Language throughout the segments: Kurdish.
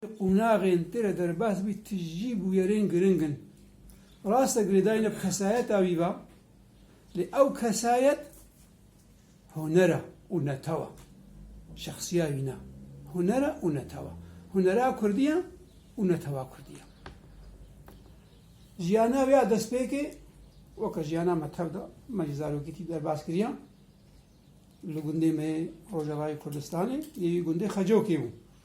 Qonaxên tê de derbas bûyî tijî bûyerên giring in. Rast e girêdayîna bi kesayeta wî va, lê ew kesayet huner e û netewa. Şexsiya wî ne, huner e û netewa. Hunera kurdî ye û netewa kurdî ye. Jiyana wê ya destpêkê weke jiyana me tev da, me jî zarokê tî derbas kiriya. Li gundê me yê Rojavayê Kurdistanê yê wî gundê Xecokê bû.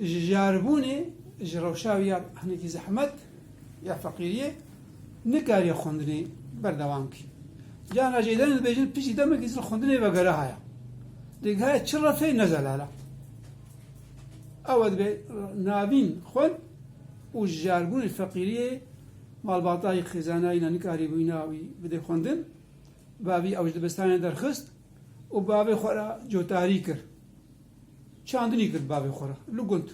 Ji jaribûnê, ji rewşa wî ya hinekî zehmet, ya feqîriyê nikariye xwendinê berdewam bike. Can Racê Îlem dibêjin piştî demekî zil xwendinê vegeriha ya. Lê geha çi refeyê ne zelal e. Ew dibe navîn xwend û ji jaribûnê feqîriyê malbatayî xêzanayîna nikarîbûyîna wî bidê xwendin, bavî ew ji dibistanê derxist û bavê xwe re cotarî kir. Çandinî girt bavê xwe re li gund.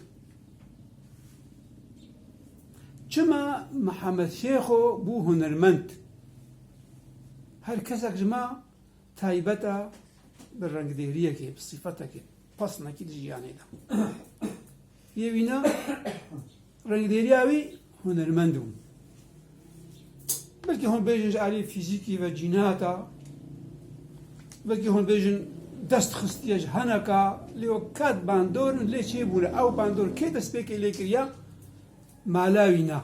Çima Mihemed Şêxo bû hunermend? Her kesek ji me taybet e bi rengdêriyekê, bi sîfetekê, pesnekî di jiyanê de. Yê wîna rengdêriya wî hunermend bû. Belkî hûn bêjin ji aliyê fîzîkî ve cînat a, belkî hûn bêjin dest xistiye ji heneka, lê wek ket bandor in lê çêbûne. Ew bandor kê destpêkê lê kiriya? Mala wî na.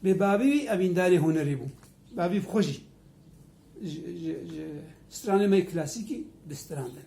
Lê bavî wî evîndarê hunerê bû. Bavî xwe jî ji stranê me yê klasîkî distrandin.